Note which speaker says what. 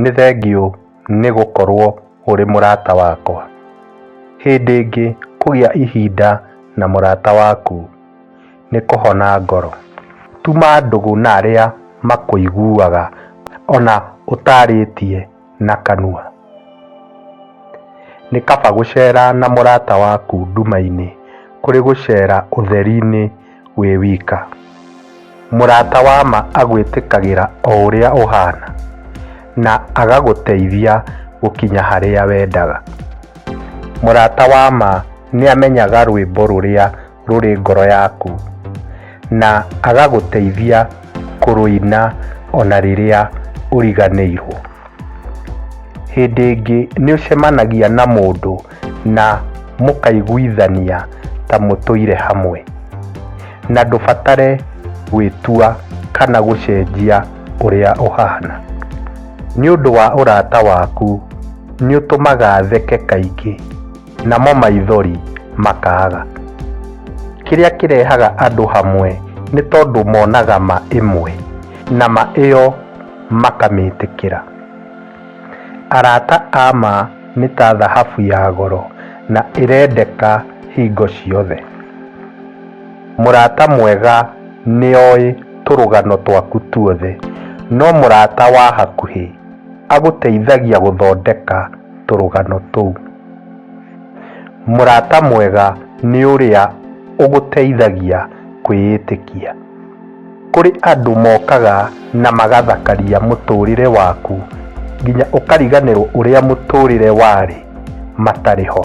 Speaker 1: Nĩ thengiũ nĩ gũkorũo ũrĩ mũrata wakwa. Hĩndĩ ĩngĩ kũgĩa ihinda na mũrata waku nĩ kũhona ngoro. Tuma ndũgũ na arĩa makũiguaga o na ũtaarĩtie. na kanua. Nĩ kaba gũcera na mũrata waku nduma-inĩ kũrĩ gũcera ũtheri-inĩ wĩ wika. Mũrata wa ma agwĩtĩkagĩra o ũrĩa ũhana na agagũteithia gũkinya harĩa wendaga. Mũrata wa ma nĩ amenyaga rwĩmbo rũrĩa rũrĩ ngoro yaku, na agagũteithia kũrũina o na rĩrĩa ũriganĩirũo. Hĩndĩ ĩngĩ nĩ ũcemanagia na mũndũ na mũkaiguithania ta mũtũire hamwe, na ndũbatare gwĩtua kana gũcenjia ũrĩa ũhaana. Nĩ ũndũ wa ũrata waku, nĩ ũtũmaga theke kaingĩ. namo maithori makaaga. Kĩrĩa kĩrehaga andũ hamwe nĩ tondũ monaga ma ĩmwe na ma ĩyo makamĩtĩkĩra. Arata a ma nĩ ta thahabu ya goro na ĩrendeka hingo ciothe. Mũrata mwega nĩ oĩ tũrũgano twaku tuothe, no mũrata wa hakuhĩ agũteithagia gũthondeka tũrũgano tũu. Mũrata mwega nĩ ũrĩa ũgũteithagia kwĩĩtĩkia. Kũrĩ andũ mokaga na magathakaria mũtũũrĩre waku nginya ũkariganĩrwo ũrĩa mũtũũrĩre warĩ matarĩ ho.